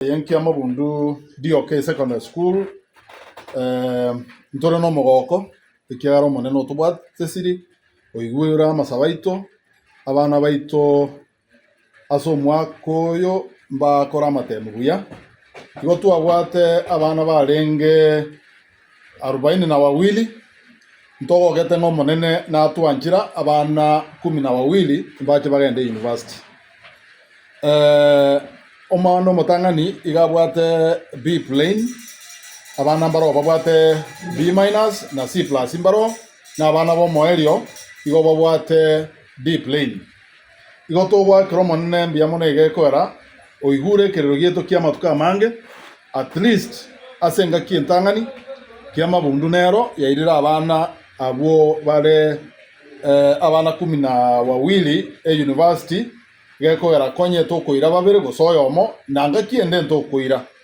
Y'enkiamabundu rioka esecondary school ntore nomogoko ekiagera omonene otobwate tesiri oigure amasabo aito abana baito ase omwaka oyo mbakore amatemi buya igo twabwate abana barenge Arubaini na bawili, ntogogete ng'a Omonene natwanchire abana ikomi na bawili mbache bagende university. Omwana omotang'ani iga abwate B plain, abana mbaroo babwate B minus na C plus mbaroo, na abana b'omoerio igo babwate D plain. Igo togoakera Omonene mbuya mono egekoera oigure ekerero gieto ki'amatuko amange, at least ase engaki entang'ani y'amabundu nero yairire abana abwo bare abana kumi na wawili eyunivasiti, gekoera konyete okoira babere gose oyomo, na ngaki ende ntokoira.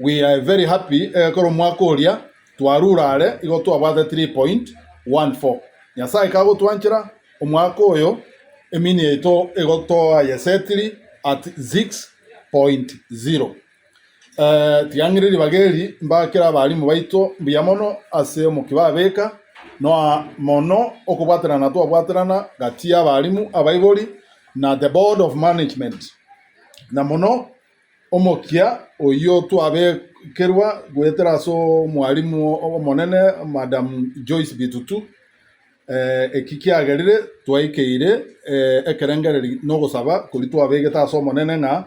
We are very happy egekora omwaka oria twarure are igo twabwate 3.14. Nyasae kagotwanchera omwaka oyo emini yaito igo toayesetiri at 6.0. Eh, tigang'ire ribaga eri mbakera abalimu baito mbuya mono ase omokia babeka noa mono okobwaterana twabwaterana gati y'abalimu, abaibori, na the board of management, na mono Omokia oyio twabekerwa goetera ase omwalimu omonene Madam Joyce Bitutu, eki kiagerire twaikeire ekerengereri na ogosaba koria twabegete ase Omonene ng'a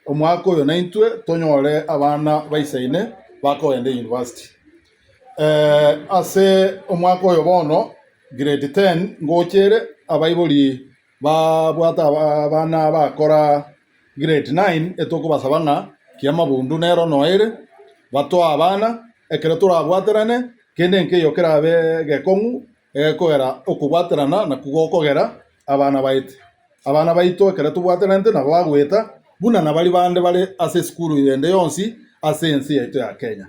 omwaka oyo naintwe tonyore abana ba isaine bakogenda eyunivasiti. Ase omwaka oyo bono grade ten ngocha ere abaibori Babwate abana bakora grade nine etokobasaba ng'a ki'amabundu nero noere batoe abana ekero torabwaterane kende nkeiyo kerabe egekong'u egekogera okobwaterana nakwo gokogera abana baito. Abana baito ekero tobwateranete nabo bagoeta buna nabaria bande bare ase esukuru ende yonsi ase ense yaito ya Kenya.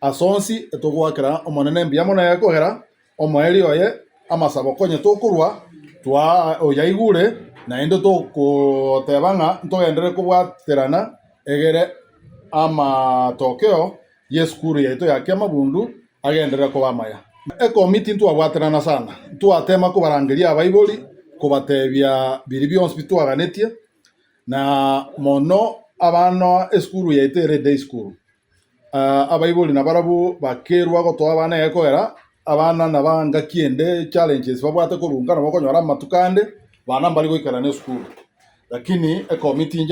Ase onsi etogoakera Omonene mbuya mono ekogera omoerio oye amasabo konya tokorwa twaa oyaigure, naende togoteba ng'a ntogenderere kobwaterana egere amatokeo y'esukuru yaito ya kiamabundu agenderere koba amaya. Ekomi tintwabwaterana sana, ntwatema kobarangeria abaibori, kobatebia biria bionsi bitwaganetie, na mono abanoa esukuru yaito ere Day School. Abaibori nabarabwo bakerwa gotoa abana egekoera, abana naba engaki ende challenges babwate korwa nka nabo okonyora amatuko ande bana mbari goikerana esukuru lakini ecomiting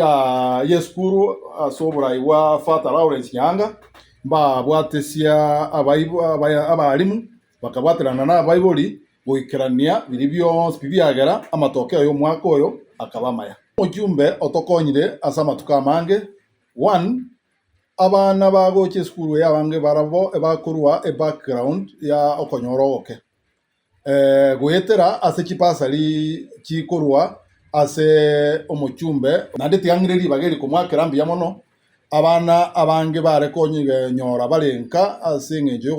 yesukuru ase oborai bwa Father Lawrence Nyaanga mbabwatesia abarimu bakabwaterana nabaibori goikerania biri bionsi pi biagera amatokeo yomwaka oyo akaba amaya. Omochumbe otokonyire ase amatuko amange, one. Abana bagocha esukuru eye abange barabwo ebakorwa ebackground ya okonyora ogoke, goetera ase chibasari chikorwa ase omochumbe. Naende tiga ng'ire ribaga eri komoakera mbuya mono, abana abange bare konyora bare nka ase eng'encho ya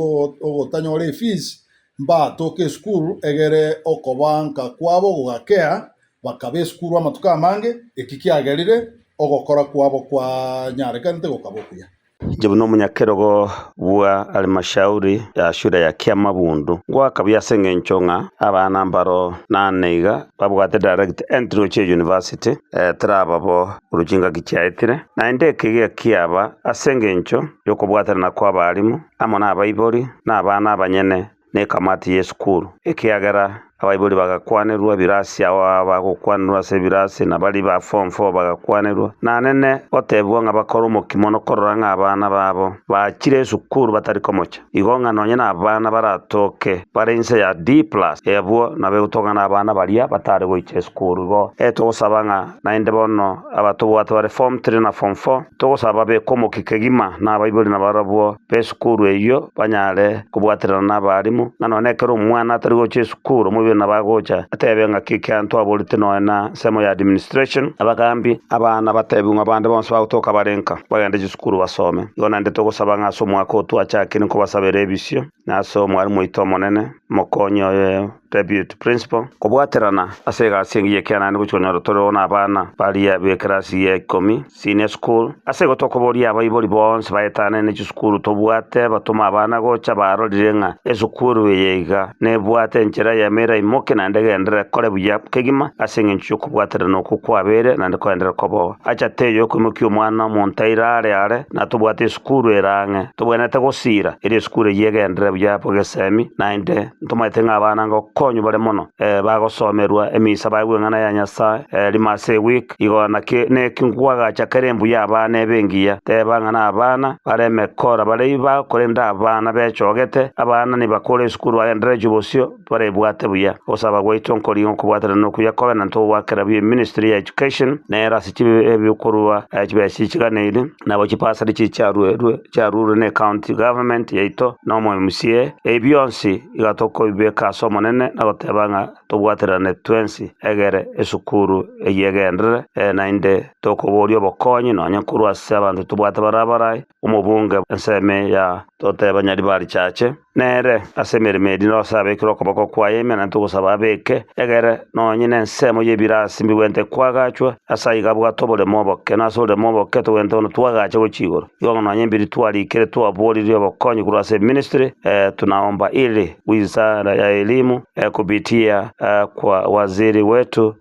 ogotanyora efees, mbatoke esukuru egere okoba nka kwabo gogakea Bakaba esukuru amatuko amange, eki kiagerire ogokora kwabo kwanyarekanete gokaba okuya. Inche buna omonyakerogo bwa Alimashauri ya Shule ya Kiamabundu ngoakabia ase engencho ng'a abana mbaro nane iga babwate direct entry gochia University, teraba bo korwa chingaki chiaetire, naende eke iga kiaba ase engencho yokobwatanana kw'abalimu amo nabaibori na abana abanyene nekamati y'esukuru, ekiagera abaibori bagakwanerwa ebirasi ao abagokwanerwa ase ebirasi, na baria ba form four bagakwanerwa. Nanene gotebigwa ng'a bakore omokia mono korora ng'a abana babo bachire esukuru batari komocha. Igo ng'a nonye nabana baratoke bare inse ya D plus, abwo nabo egotong'ana abana baria batare goicha esukuru. Igo togosaba ng'a. Naende bono abatobwate bare Form Three na Form Four, togosaba babekwe omokia kegima nabaibori nabarabwo b'esukuru eyio banyare kobwaterana nabarimu, ng'a nonya ekero omwana atari gocha esukuru omoibori nabo agocha atebe ng'a keki anto aboreti nonya nsemo ya administration. Abagaambi, Abana batebiwe ng'a bande bonsi bagotoka bare nka, bagende chisukuru basome. Igo naende togosaba ng'a ase omwaka oo twachakire nkobasabera ebisio. nase omwalimu oito omonene, mokonyi oye, deputy principal. Kobwaterana ase egasi engiya ekianani gochia konyora tore oo nabana baria bekerasi ya ikomi, senior school. Ase igo tokoboria abaibori bonsi baetane ne chisukuru tobwate batoma abana gocha barorire ng'a esukuru eye iga nebwate enchera y'emeera imoke naende egenderere kore buya kegima ase engencho y'okobwaterana okwo kwabeire naende koenderere koboa. Acha tei okoimokia omwana omonto aire aare aare natobwate esukuru. Sukuru ere ang'e. Tobwenerete gosiira, erio esukuru eyio egenderere buya abwo gesemi, naende ntomanyete ng'a abana ngokonywa bare mono, bagosomerwa emisa baigwe eng'ana ya Nyasae rimo ase eweek. Igo naki neki nkwagacha kera embuya abana ebe engiya. Teba ng'a nabana bare emekora, baria korende abana bechogete, abana nibakore esukuru bagendererechwe bosio, Twaribwate buya ogosaba gwaito nkorigia okobwatana nokuya kobe na ntogwa kera buya eministry ya Education nero ase chibe ebikorwa chibesa chichiganeire nabo chibasari chichiaruerwe chiaruirwe ne county government yaito na omo mca ebi bionsi iga tokobibeka ase omonene na goteba ng'a tobwaterane twensi egere esukuru eyio egenderere naende tokoboria obokonyi nonya korwa ase abanto tobwate bare abarai omobunge ensemo ya toteba Nyaribarichache, nere ase emeremo eria nose abekire okoboko kwaye emenanto ogosaba abeke egere, na onye nensemo y'ebirasi mbigwente kwagachwe, ase aiga abwate oboremo oboke, na ase oboremo oboke togwente bono twagache gochia igoro. Igo ng'a nonya ebiria twarikire twaboririe obokonyi korwa ase eministry, tunaomba ili wizara ya elimu kupitia kwa waziri wetu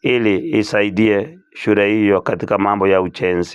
ili isaidie shule hiyo katika mambo ya ujenzi.